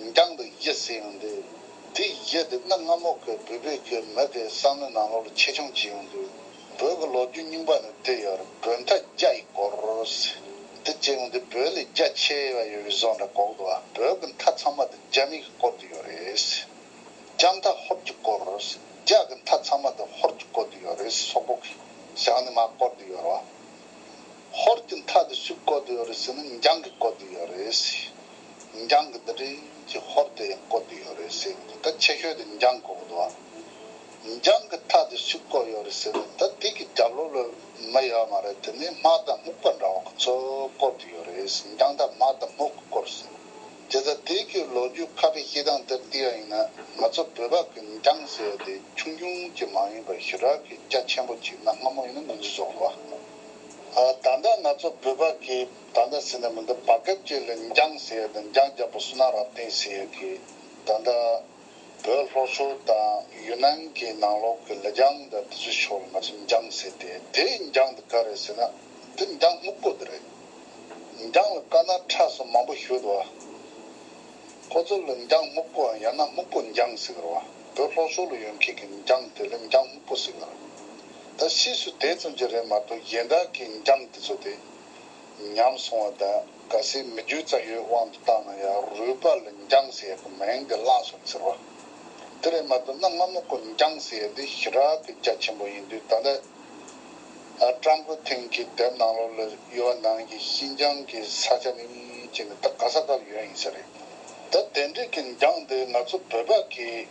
རྒྱང་དུ་ཡིད་བསྲེ་ཡང་འདུག། དེ་ཡིད་དུ་གནག་རྔ་མོག་གི་འབུད་འབུད་ཀྱིས་མོད་པའི་བསམ་བློའི་ནང་ལོག་ལ་ཆེ་ཆུང་བྱེད་ཡོང་དུས། བོད་ཀྱི་ལོ་རྒྱུས་རྙིང་པ་ནས་བལྟས་ཡོར་བོད་མཐའ་རྒྱ་ཡི་སྐོར། དེ་བྱེད་ཡོང་དུས་བོད་ལས་རྒྱ་ཆེ་བ་ཡོད་པའི་བཟོ་འདྲ་གོག་འདུག་བོད་ཀྱི་མཐའ་ཚང་མ་དེ་རྒྱ་མི་གི་སྐོར་དུ་ཡོད་རེད། རྒྱ་མཐའ་ཧོར་གྱི་སྐོར། རྒྱ་གི་མཐའ་ཚང་མ་དེ་ཧོར་གྱི་སྐོར་དུ་ཡོད་རེད་སོག་པོ་གི་ཞང་ནི་མ་སྐོར་དུ་ཡོར་བ། ཧོར་གྱི་མཐའ་དེ་སུའི་སྐོར་དུ་ཡོད་རེད་ཟེར་ན་འཇང་གི་སྐོར་དུ་ཡོད་རེད། འགྱངས་ཀྱི་འདི་འདྲའི་ཀྱི་ཧོར་དེ་ཡང་བཀོལ་གྱི་ཡོད་རེད་ཟེར་གི་འདུག་ད་ཆེ་ཤོས་དེ་འགྱངས་གོ་གི་འདུག་ཨ། འགྱངས་ཀྱི་ཐག་དེ་སུས་བཀོལ་ཡོད་རེད་ཟེར་ན་ད་དེ་ཀྱི་རྒྱབ་ལོགས་ལ་མི་ཡོད་མ་རེད་དེ་ནས་སྨག་དང་སྨུག་པ་འདྲ་བ་ཁོ་ཚོས་བཀོལ་གྱི་ཡོད་རེད་ཟེར་འགྱངས་ཐག་སྨག་དང་སྨུག་གི་བཀོལ་ཟེར་དེ་ད་དེ་ཀྱི་ལོ་རྒྱུས་ཁ་བའི་སྐྱེས་སྟངས་དེར་བལྟས་ཡ་ཡིན་ན་ང་ཚོ་བོད་པ་ཀྱི་འགྱངས་ཟེར་བ་དེ་ཆུང་ཆུང་ཅིག་མ་ཡིན་པར་ཞི་རགས་ཀྱི་སྐྱ་ཆེན་པོ་ཅིག་གནའ་སྔ་མོ་ཡིན་ན་ང་ཚོས་བཟོ་དགོས་ཨ། ད་ལྟ་ང་ཚོ་བོད་པ་ཀྱི། ད་ལྟ་ཟེར་ན་མི་འདུག་བར་སྐབས་སྐྱེས་ལ་འགྱངས་ཟེར་དང་འགྱངས་རྒྱག་པ་སུ་ན་རབ་བརྟན་ཟེར་གི། ད་ལྟ་བོད་ལྷོ་ཕྱོགས་དང་ཡུ་ནན་གྱི་ནང་ལོགས་ཀྱི་ལ་རྒྱང་དང་དེ་ཚོའི་ཕྱོགས་ལ་ང་ཚོ་འགྱངས་ཟེར་ཏེ་དེ་འགྱངས་འདི་ག་རེད་ཟེར་ན་དེ་འགྱངས་སྨུག་པོ་འདི་རེད། འགྱངས་ལ་དཀར་ནག་ཁྲ་སོགས་མང་པོ་ཞུ་འདུག་བ། ཁོ་ཚོ་ལ་འགྱངས་སྨུག་པོའམ་ཡང་ན་སྨུག་པོ་འགྱངས་ཟེར་གི་རེད་བ། བོད་ལྷོ་ཕྱོགས་ལ་ཡོད་མཁན་གྱི་འགྱངས་དེ་ལ་འགྱངས་སྨུག་པོ་ཟེར་གི་རེད། ད་སུས་སུ་དེ་ཙམ་གྱིས་རེད་མ་གཏོགས་གཞན་དག་གི་འགྱངས་དེ་ཚོ་དེ་ཉམས་སོང་བ་དག་ག་སེ་མི་རྒྱུ་རྩ་ཡོད་དབང་དུ་བཏང་ན་ཡང་རུས་པ་ལ་འགྱངས་ཟེ་ཡག་གི་མིང་དེ་བླངས་སོང་ཟེར་བ། དེ་ལས་མ་བཏོན་ན་སྔ་མོ་སྐོར་འགྱངས་ཟེ་ཡག་འདི་ཞི་དྲག་གི་རྒྱ་ཆེན་པོ་ཡིན་དུས་ད་ལྟ་ཀྲང་ཀོ་ཐིང་གི་དེབ་ནང་ལོག་ལ་ཡོད་བ་ནང་གི་ཤིན་ཅང་གི་ས་ཆ་ནི་ཅི་ནས་ད་ག་ས་ག་ཡོད་ཡིན་ས་རེད་ད་དེ་འདྲས་གི་འགྱངས་དེ་ང་ཚོ་བོད་པ་གིས་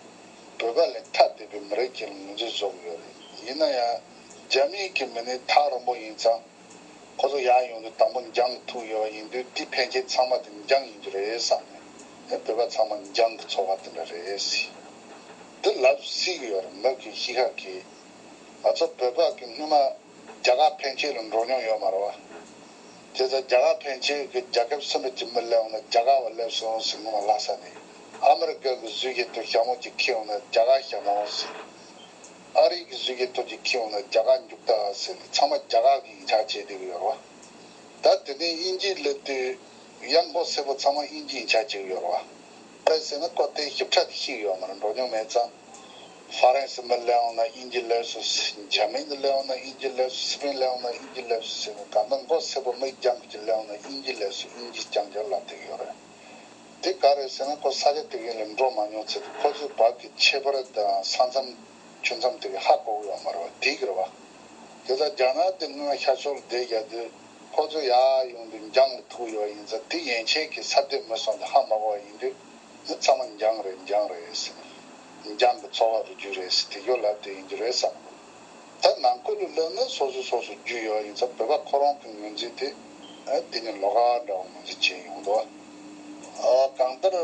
བོད་པ་ལས་ཐ་དད་པའི་མི་རེད་ཅེས་ལ་ངོས་འཛིན་བཟོ་གི་ཡོད་རེད་ཡིན་ན་ཡང་རྒྱ་མིའི་གི་མི་ནི་ཐག་རིང་པོ་ཡིན་ཙང། ཁོ་ཚོ་ཡང་ཡོང་དུས་དང་པོ་འགྱངས་ཀྱི་ཐུག་ཡོད་པ་ཡིན་དུས་དེ་ཕན་ཁྱེད་ཚང་མ་དེ་འགྱངས་ཡིན་རྒྱུ་རེད་བསམ་ནས་ཡང་བོད་པ་ཚང་མ་འགྱངས་ཀྱི་ཚོར་བ་དེ་འདྲ་རེད་སྲིད། འདི་ལབ་སྲིད་ཀྱི་ཡོད་རེད་མོད་ཀྱི་ཤི་ཁ་གི། ང་ཚོ་བོད་པ་གི་སྔུན་མ་རྒྱ་གར་ཕན་ཁྱེད་ལ་འགྲོ་མྱོང་ཡོད་མ་རེད་བ། དེ་ཚོ་རྒྱ་གར་ཕན་ཁྱེད་གི་རྒྱ་ཁབ་སེམས་པ་ཅི་མི་སླེབས་འོང་ན་རྒྱ་གར་བ་སླེབས་སྲིད་འོང་སྲིད་སྔུན་མ་ལྷ་ས་ནས་ཨ་མི་རི་ཀ་གི་གཟུད་ཁྱེད་དུ་ཞྭ་མོ་ཅིག་ཁྱེར་འོང་ན་རྒྱ་གར་ཞྭ་མོ་འོང་སྲིད། ཨ་རིག་གི་གཟུགས་ཀྱི་སྟོད་ཀྱི་ཁྱི་འོ་ན་རྒྱ་གར་འཇུག་ད་ཟེར་ནས་ཚང་མ་རྒྱ་གར་གྱི་ཡིག་ཆ་བྱས་འདུག་ཡོད་རེད་བ། ད་དེ་ནས་དབྱིན་ཇིར་སླེབས་དུས་གཡག་མགོ་སེར་པོ་ཚང་མ་དབྱིན་ཇི་ཡིག་ཆ་བྱས་ཡོད་རེད་བ། པད་ཟེར་ན་ཀོ་ཏའི་ཞིབ་ཕྲ་དེ་ཤེས་ཡོད་མ་རེད་འགྲོ་མྱོང་མེད་ཙང། ཧྥ་རན་སི་མི་སླེབས་འོང་ན་དབྱིན་ཇི་སླེབས་སུ་སི། འཇར་མན་ནི་སླེབས་འོང་ན་དབྱིན་ཇི་སླེབས་སུ་སི་པིན་སླེབས་འོང་ན་དབྱིན་ཇི་སླེབས་སུ་ཟེར་ནས་གང་ལྟར་མགོ་སེར་པོ་མི་རྒྱང་ཁྱི་སླེབས་འོང་ན་དབྱིན་ཇི་སླེབས་སུ་དབྱིན་ཇི་རྐྱང་རྐྱང་ལབ་འདུག་ཡོད་རེད། དེ་ག་རེད་ཟེར་ན་ཁོ་ས་ཆ་དེ་གའི་ལས་འགྲོ་མ་མྱོང་ཚེ་ཁོ་ཚོའི་བར་གྱི་ཁྱད་པར་དང་ས་མཚམས་ཆུ་མཚམས་དེ་གའི་ཧ་གོ་གི་ཡོང་མ་རེད་བ་དེ་ག་རེད་བ། དེ་ལྟར་རྒྱ་ནག་དེ་སྔོན་ཤར་ཕྱོགས་ལ་བསྡད་རྒྱག་དུས་ཁོ་ཚོ་ཡར་ཡོང་དུས་འགྱངས་མི་ཐུབ་ཡོད་བ་ཡིན་ཚ་དེ་ཡན་ཆད་ཀྱི་ཚབ་བསྡད་མི་སོང་དུས་ཧ་མ་གོ་བ་ཡིན་དུས་མི་ཚང་མ་འགྱངས་རེད་འགྱངས་རེད་ཟེར་ནས་འགྱངས་ཀྱི་ཚོགས་ཁག་ཏུ་རྒྱུགས་རེད་ཟེར་དེ་སྐྱོར་ལབ་དེ་ཡིན་རྒྱུ་རེད་བསམ་དགོས། ད་ནང་བཀོད་ལུགས་ལོན་ནས་སོ་སོའི་ཚོགས་སུ་རྒྱུས་ཡོད་པ་ཡིན་ཚ་བོད་པ་ཁོ་རང་གི་ངོས་འཛིན་དེ་འདི་ནས་ལོ་ག་འདྲ་བ་ངོས་འཛིན་བྱས་ཡོང་དོ། གང་ལྟར་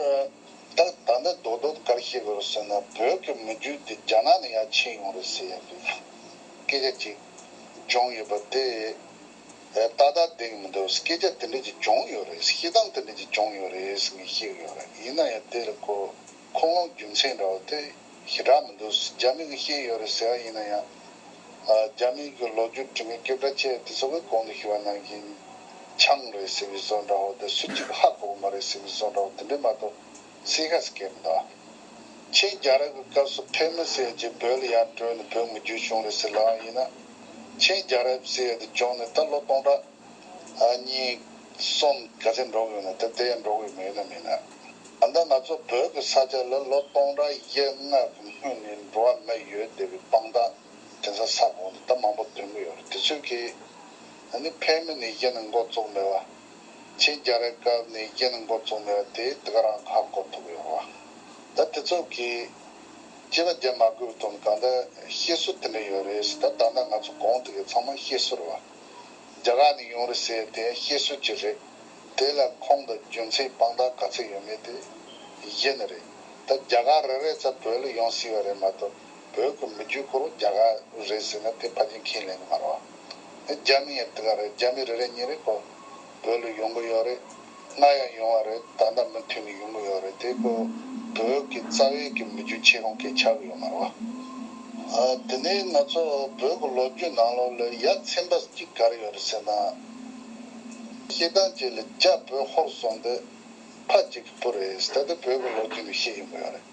ད་ད་ནས་རྡོ་རྡོ་དགར་བཤད་དགོས་རུ་ཟེར་ན་བོད་ཀྱི་མི་རྒྱུད་དེ་རྒྱ་ནག་ནས་ཡར་ཕྱིན་ཡོང་རེད་ཟེར་ཡག་རེད། སྐད་ཆ་གཅིག་བྱུང་ཡོད་པ་དེ་ཏག་ཏག་བསྡད་ཀྱི་མི་འདུག་སྐད་ཆ་དེ་འདྲ་གཅིག་བྱུང་ཡོད་རེད་ཤེས་སྟངས་དེ་འདྲ་གཅིག་བྱུང་ཡོད་རེད་ཟེར་ནས་བཤད་ཀྱི་ཡོད་རེད་ཡིན་ན་ཡང་དེ་ལ་གོ། ཁོ་མོ་རྒྱུ་མཚན་འདྲ་བོ་དེ་ཞེ་དྲག་མི་འདུག་རྒྱ་མི་གི་ཤེས་ཡོད་རེད་ཟེར་བ་ཡིན་ན་ཡང། རྒྱ་མི་གི་ལོ་རྒྱུས་དྲི་མེད་སྐད་བཀྲ་བཅས་དེ་ཚོ་བའི་གོང་དུ་ཞུ་བ་ནང་བཞིན། ཆང་རེད་ཟེར་བའི་བཟོ་འདྲ་བོ་དེ་སུ་གཅིག་གི་ཧ་གོ་གི་མ་རེད་ཟེར་བའི་བཟོ་འདྲ་བོ་དེ་འདྲས་མ་གཏོགས་སི་ཧ་སི་ཀའི་མི་འདུག་ཨ། ཁྱེད་རྒྱ་རབ་གི་སྐབས་སུ་ཕེབས་མི་སྲིད་རྗེས་བོད་ལ་ཡར་བྲོས་ནས་བོད་མི་རྒྱུད་བྱུང་རེད་ཟེར་ལབ་ཨང་ཡིན་ན། ཁྱེད་རྒྱ་རབ་སི་ཧ་དེ་བྱུང་ནས་ད་ལོ་སྟོང་ཕྲག། གཉིས། གསུམ། གལ་སྲིད་འགྲོ་དགོས་ན་དེ་དེ་ཡང་འགྲོ་དགོས་མེད་ན་མིན། ད་ལྟ་ང་ཚོ་བོད་ཀྱི་ས་ཆ་ལ་ལོ་སྟོང་ཕྲག་བརྒྱད་ལྔ་གི་སྔོན་ནས་འགྲོ་བ་མི་ཡོད་བསྡད་པའི་དཔང་རྟགས་དེ་ཚོ་ས་གོང་ནས་ད་མང་པོ་འདོན་གྱི་ཡོད་རེད་དེ་ཚོས་ཀྱིས། ད་ནི་ཕན་མི་ནས་ཀྱི་ནས་འགོ་བཙུགས་ནས་བ། ཆིང་རྒྱ་རི་སྐབས་ནས་ཀྱི་ནས་འགོ་བཙུགས་ནས་བ་དེ་དེ་ག་རང་ཁ་གོ་ཐུབ་ཡོད་བ། ད་དེ་ཚོ་གིས། སྐྱེས་པ་རྒྱལ་མ་དགོས་པའི་དོན་གང་ད་ཤེས་སུ་དེ་འདྲ་ཡོད་རེད་ད་ད་ལྟ་ང་ཚོ་གོང་དེ་གའི་ཚང་མ་ཤེས་སུ་རེད་བ། རྒྱ་གར་ནས་ཡོང་རེད་ཟེར་དེ་བཤད་སྲོལ་གྱི་རེད། དེ་ལ་ཁོང་དང་རྒྱུ་མཚན་དཔང་རྟགས་ག་ཚད་ཡོད་མེད་དེ་གཞི་ནས་རེད། ད་རྒྱ་གར་རེ་རེ་ཚ་བོད་ལ་ཡོང་སྲིད་པ་རེད་མ་གཏོགས་བོད་ཀྱི་མི་རྒྱུད་ཁོར་བ་རྒྱ་གར་རེད་ཟེར་ན་དེ་ཕ་རྒྱ་མཁས་ལེན་གྱི་མ་རེད་བ། དེ་རྒྱ་མི་ཡང་དེ་ག་རེད་རྒྱ་མི་རེ་རེ་ཉིན་རེ་ཁོ། བོད་ལ་ཡོང་གི་ཡོད་རེད། ང་ཡང་ཡོང་བ་རེད་ད་ལྟ་མུ་མཐུད་ནས་ཡོང་གི་ཡོད་རེད་དེ་ཁོ་བོད་ཀྱི་རྩ་བའི་གི་མི་རྒྱུ་ཆེ་རུང་གི་ཆགས་གི་ཡོད་མ་རེད་བ། དེ་ནས་ང་ཚོ་བོད་ཀྱི་ལོ་རྒྱུས་ནང་ལོག་ལ་ཡ་མཚན་པ་གཅིག་ག་རེ་ཡོད་རེད་ཟེར་ན། ཤེས་སྟངས་ཅིག་ལ་རྒྱ་བོད་ཧོར་སོང་དེ་ཕ་གཅིག་གི་བུ་རེད་ད་དེ་བོད་ཀྱི་ལོ་རྒྱུས་ནས་ཤེས་ཡོང་གི་ཡོད་རེད།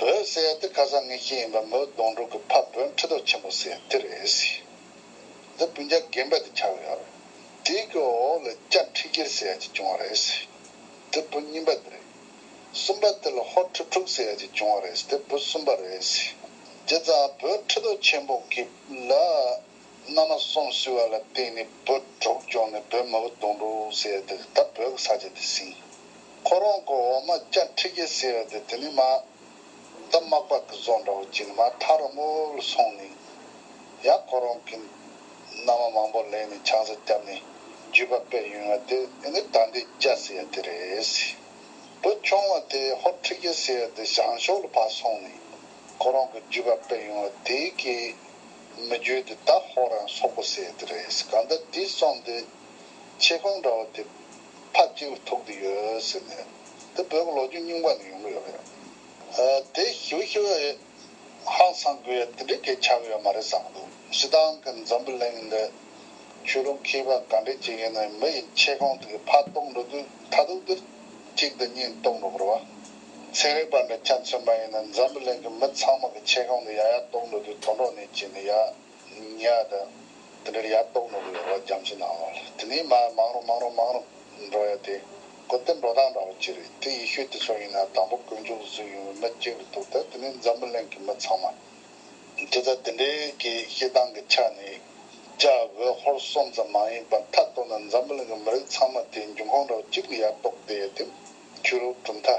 བོད་ཟེར་ཡ་དེ་ཁ་སང་ངས་ཤེས་ཡིན་པ་མོའི་སྡོང་ཕྲུག་གི་ཕ་བོན་ཁྲི་ཐོག་ཆེན་པོ་ཟེར་ཡ་དེ་རེད། འདི་སྤུན་ཆ་རྒན་པ་དེ་ཆགས་གི་ཡོད་རེད། དེའི་གོ་འོག་ལ་སྐྱ་ཁྲི་གྱེར་ཟེར་ཡ་གཅིག་བྱུང་བ་རེད། དེ་བུ་གཉིས་པ་དེ་རེད། གསུམ་པ་དེ་ལ་ཧོར་ཁྲི་དྲུག་ཟེར་ཡ་གཅིག་བྱུང་བ་རེད་དེ་བུ་གསུམ་པ་རེད། རྗེས་ཙང་བུ་ཁྲི་དོ་ཆེན་པོ་གི་ལ་མནའ་མ་སོང་བསུས་བ་ལ་བརྟེན་ནས་བུ་དྲུག་བྱུང་ནས་བུ་མོ་བུ་དུང་དྲུག་ཟེར་དེ་ད་བོད་ཀྱི་ས་ཆ་དེ་ཟིན། ཁོ་རང་གོ་འོག་མ་སྐྱ་ཁྲི་གྱེར་ཟེར་བ་དེ་དེ་ནས་མ། འདི་མག་པ་གི་བཟོ་འདྲ་བོ་གཅིག་ན་ཐག་རིང་མོ་ལ་སོང་ནས། ཡང་ཁོ་རང་གིས་མནའ་མ་མང་པོ་ལེན་ནས་ཆང་ཟ་བརྒྱབ་ནས་རྒྱུས་པ་སྤེལ་ཡོང་བ་དེ་ནི་ད་ལྟའི་རྒྱ་ཟེར་ཡ་དེ་རེད། བུ་ཆུང་བ་དེ་ཧོར་ཁྲི་རྒྱལ་ཟེར་ཡ་དེ་ཞང་ཞོགས་ལ་ཕར་སོང་ནས་ཁོ་རང་གི་རྒྱུས་པ་སྤེལ་ཡོང་བ་དེ་གས་མི་རྒྱུས་དེ་ད་ཧོར་རང་སོག་པོ་ཟེར་ཡ་དེ་རེད་གང་ལྟར་དེའི་གསུང་དེ་ཆེ་ཁུངས་འདྲ་བོ་དེ། ཕར་སྐྱེ་བའི་དུག་འདི་ཡོད་ཟེར་ནས། འདི་འབོད་ཀྱི་ལོ་རྒྱུས་རྙིང་པ་ནས་ཡོང་གི་ཡོད་རེད། དེ་ཞིབ་ཞིབ་ཨེ་ཧང་སང་གི་ཡོད་དེ་འདྲའི་གས་ཆག་གི་ཡོད་མ་རེད་བསམ་གྱི་འདུག་ཞེ་སྡང་གི་འཛམ་བུ་གླིང་འདི། ཆོས་ལུགས་མཁས་པ་ག་འདྲས་ཀྱི་ཡིན་ནའི་མི་ཡི་མཆེད་ཁང་དེ་གའི་ཕར་གཏོང་འགྲོ་དུས་མཐའ་དུག་འདི་གཅིག་འདི་གཉིས་གཏོང་འགྲོ་གི་རེད་བ། ཚན་རིག་པ་འདྲ་ཁྱད་མཚོན་པ་ཡིན་ནའི་འཛམ་བུ་གླིང་གི་མི་ཚང་མ་གི་མཆེད་ཁང་འདི་ཡ་ཡ་གཏོང་འགྲོ་དུས་དོན་གྲོགས་ནས་ཀྱི་ནི་ཡ། ཉལ་ཡ་དང། དེ་འདྲར་ཡར་ལྡོག་ནོར་བུའི་རོ་ལ་འགྱམ་ཞིག་གནང་བ། དེ་ནས་མ་མང་རུང་མང་རུང་མང་རུང་འགྲོ་ཡ་དེ། སྒོ་གཏན་འགྲོ་སྟངས་འདྲ་བོ་གཅིག་རེད་དེ་ཡེ་ཤུའི་དུས་ཚོད་ཡིན་ན་དང་པོ་གོས་འཇོག་བཟོས་ཡོང་བའི་མི་གཅིག་རེད་འདུག་ད་དེ་ནས་འཛམ་བུ་གླིང་གི་མི་ཚང་མ། དེ་ལྟར་དེ་འདྲའི་གི་བཤད་སྟངས་ཀྱི་ཆ་ནས། ལྕགས་འོད་ཧོར་གསུམ་ཙམ་མ་ཡིན་པར་མཐའ་གཏོར་ན་འཛམ་བུ་གླིང་གི་མི་རིགས་ཚང་མ་དེ་འཇུག་ཁང་འདྲ་བོ་གཅིག་ལ་ཡར་ལྡོག་བསྡད་ཡ་དེ། ཁྱོད་རོགས་གྲུབ་མཐའ།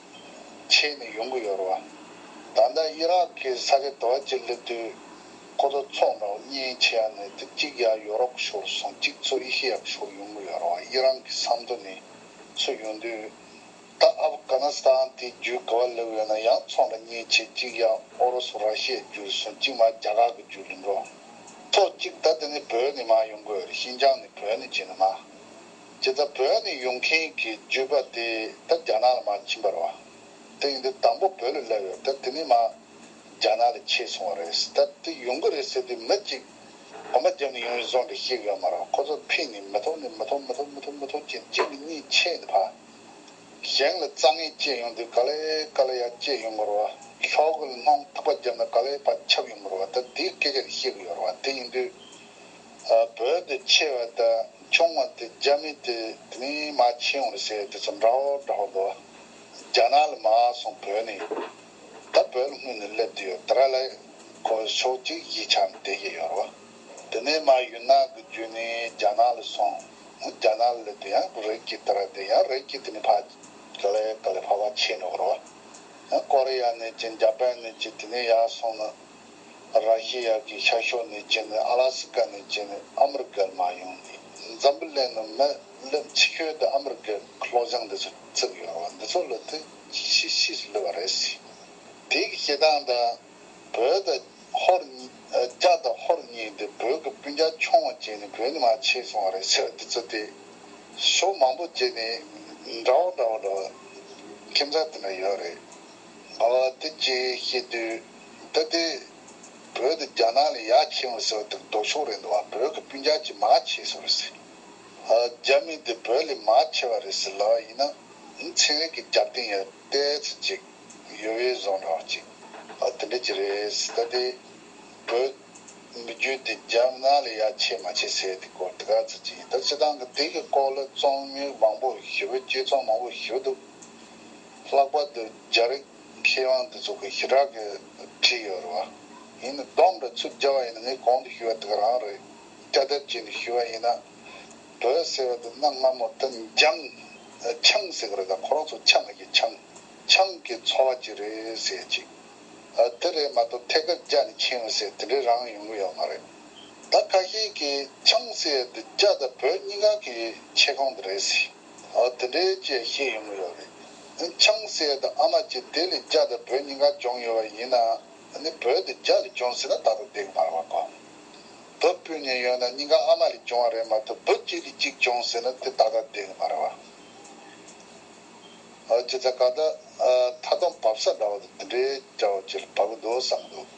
ཆེས་ནས་ཡོང་གི་ཡོད་རེད་བ། ད་ལྟ་དབྱི་རག་གི་ས་ཁེ་དོ་ཨ་ཅི་ལི་དུས་ཁོ་ཚོ་ཚོགས་འདྲ་བོ་གཉིས་ཆེ་ཡ་ནས་དེ་གཅིག་ཡ་ཡོ་རོབ་ཤོར་སོང་གཅིག་ཚོ་དབྱི་ཤི་ཡག་ཤོར་ཡོང་གི་ཡོད་རེད་བ་དབྱི་རང་གི་ས་མཐོ་ནས་ཚུད་ཡོང་དུས་ད་ཨབ་གྷ་ནི་སི་ཐན་དེ་བརྒྱུད་ག་བ་ལེབ་ཡོད་ན་ཡང་ཚོགས་འདྲ་གཉིས་ཆེ་གཅིག་ཡ་ཨོ་རོ་སུ་ར་ཤི་ཡ་བརྒྱུད་སོང་གཅིག་མ་རྒྱ་གར་གི་བརྒྱུད་ལི་འགྲོ་ཚོགས་གཅིག་ད་དེ་ནས་བོད་ནས་མ་ཡོང་གི་ཡོད་རེད་ཤིན་ཅང་ནས་བོད་ནས་བྱས་ནས་མ། ཇི་ལྟར་བོད་ནས་ཡོང་མཁན་གྱི་རྒྱུད་པ་དེ་ད་རྒྱ་ནག་ལ་མ་ཕྱིན་པར་བ་དེང་འདིར་དང་པོ་བོད་ལ་བསླེབས་ཡོད་ད་དེ་ནས་མ་རྒྱ་ནག་ལ་ཆས་སོང་བ་རེད་ད་དེ་ཡོང་གི་རེད་ཟེར་དུས་མི་གཅིག་གོམ་པ་བརྒྱབ་ནས་ཡོང་བའི་བཟོ་འདྲ་ཞིག་ཡོད་མ་རང་ཁོ་ཚོར་ཕེབས་ནས་མི་ཐོག་ནས་མི་ཐོག་མི་ཐོག་མི་ཐོག་མི་ཐོག་ཅེས་གཅིག་གི་གཉིས་ཆས་ནས་ཕ་གཞན་ལ་རྩ་ངན་བསྐྱེད་ཡོང་དུས་ག་ལེ་ག་ལེ་ཡ་བསྐྱེད་ཡོང་མི་རུང་བ་ལྷོག་གི་ལྷོང་ཐག་པ་བརྒྱབ་ན་ག་ལེ་བ་ཁྱབ་ཡོང་མི་རུང་བ་ད་དེའི་སྐད་ཆ་རེ་བཤད་གི་ཡོད་རུང་བ་དེ་ཡིན་དུས་བོད་དུ་ཆེ་བ་དང་ཆུང་བ་དེ་རྒྱ་མི་དེ་ནི་མ་ཆེན་བོར་བྱས་དེ་ཚོ་འདྲ་བོ་འདྲ་བོ་འདུག་རྒྱ་ནག་ལ་མ་སོང་བོད་ནས་ཡོད་ད་བོད་ལ་སྔུན་ནས་སླེབས་དུས་ཡོད་ད་ར་ལ་ཁོ་ཕྱོགས་གཅིག་གཞིས་ཆགས་ནས་བསྡད་ཀྱི་ཡོད་རོ་དེ་ནས་མ་ཡུལ་ནག་གི་རྒྱུད་ནས་རྒྱ་ནག་ལ་སོང་རྒྱ་ནག་ལ་སླེབས་དུས་ཡང་ཁོ་རིགས་ཀྱི་ད་ར་དེ་ཡང་རིགས་ཀྱི་དེ་ནས་ཕ་ག་ལ་ག་ལ་ཕ་བ་ཆེན་འགྲོ་གི་རོ་ཡང་ཀོ་རི་ཡ་ནས་ཀྱི་འཇའ་པན་ནས་ཀྱི་དེ་ནས་ཡར་སོང་ན་ར་ཤི་ཡ་གི་ཤར་ཕྱོགས་ནས་རྒྱུ་ནི་ཨ་ལ་སི་ཀ་ནས་རྒྱུ་ནི་ཨ་མི་རི་ཀར་མ་ཡོང་ནི་འཛམ་བུ་གླིང་ནི་མི་ལུས་འཆི་ཤོས་དུ་ཨ་མི་རི་ཀའི་གློག་བྱང་འདི་ཚོ་བརྩིགས་ཡོད་རེད་བ་འདི་ཚོ་ལུས་དུས་ཤི་ཤི་ལུས་བ་རེད་སི་དེ་གི་སྐྱེ་སྟངས་དང་བོད་དང་ཧོར་རྒྱ་དང་ཧོར་གཉིས་འདི་བོད་གི་སྤུན་རྒྱ་ཆུང་བ་བྱས་ནི་བོད་ནི་མ་ཆེ་སོང་བ་རེད་སི་འདི་ཚོ་དེ་ཤོག་མང་པོ་བྱས་ནི་འདྲ་བོ་འདྲ་བོ་འདྲ་བོ་ཁྱིམ་ཚང་དེ་འདྲ་ཡོད་རེད་ཟླ་བ་འདི་རྗེས་ཤེས་དུས་ད་ལྟའི་བོད་དུ་རྒྱ་ནག་ལས་ཡ་ཆེན་པོ་ཟེར་བ་དེར་ལྡོག་ཕྱོགས་རེད་འདུག་བ་བོད་ཀྱི་སྤུན་རྒྱག་ཅིག་མ་བྱེད་སོང་རེད་ཟེར། རྒྱ་མི་དེ་བོད་ལས་མ་ཆེ་བ་རེད་ཟེར་ལབ་བ་ཡིན་ན་ཚན་རིག་གི་རྒྱབ་རྟེན་ཡར་བལྟས་ཚུལ་ཅིག་ཡོད་བས་བཟོ་རོགས་ཅིག་དེ་འདྲ་ཅིག་རེད་ད་ལྟའི་བོད་མི་རྒྱུད་དེ་རྒྱ་ནག་ལས་ཡ་ཆེ་མ་ཆེ་ཟེར་དེ་སྐོར་དེ་ག་ཚུལ་ཅིག་ཡིན་ད་ཕྱི་དང་གི་དེ་གི་སྐོར་ལ་རྩོམ་ཡིག་མང་པོ་ཞུ་བས་དཔྱད་རྩོམ་མང་པོ་ཞུ་འདུག་ལྷག་པར་དུ་རྒྱ་རིགས་མཁས་དབང་དེ་ཚོ་གི་ཞི་དྲག་གི་བྲིས་ཡོད་རེད་བ། ཡིན་ནི་སྡོམ་རེད་ཚུར་བཅར་བ་ཡིན་ན་ངས་གོང་དུ་ཞུས་བ་དེ་ག་རང་རེད་སྐྱ་དེབ་ཅིག་ནས་ཞུས་བ་ཡིན་ན། བོད་ཟེར་བ་དེ་གནའ་སྔ་མོ་དུ་འཇམ། ཆང་ཟེར་གི་རེད་ད་ཁོ་རང་ཚོ་ཆ་མི་ཤེས་ཆང། ཆང་གི་འཚོ་བ་ཅིག་རེད་ཟེར་ཅིག། དེ་རེད་མ་གཏོགས་ཐད་ཀར་རྒྱ་ནས་ཕྱིན་བ་ཟེར་དེ་འདྲའི་རང་ཡོང་གི་ཡོད་མ་རེད། ད་ཁ་ཤས་ཀྱིས་ཆང་ཟེར་དེ་རྒྱ་དང་བོད་གཉིས་ཀ་གི་མཆེད་ཁང་དེ་རེད་ཟེར། འདི་འདྲའི་བཅས་བཤད་ཡོང་གི་ཡོད་རེད། ཆང་གསེར་དང་ཨ་མ་ཅི་དེ་ལས་རྒྱ་དང་བོད་གཉིས་ཀ་སྦྱོང་ཡོད་པ་ཡིན་ན། བོད་དུ་རྒྱ་ལས་སྦྱོང་སྲིད་ན་ད་དུང་འདེགས་མར་བ་གོ། བུ་སྤུན་གཉིས་ཡོད་ན་གཉིས་ཀ་ཨ་མ་ལས་སྦྱོང་བ་རེད་མ་གཏོགས་བུ་གཅིག་གིས་གཅིག་སྦྱོང་སྲིད་ན་དེ་ད་ལྟ་འདེགས་མར་བ། ཅི་ཚ་ག་ད་མཐའ་སྡོམ་བབས་ས་འདྲ་བ་དང་འདི་འདྲའི་བྱ་བ་བྱེད་ལ་བབས་གི་འདུག་བསམ་གི་འདུག།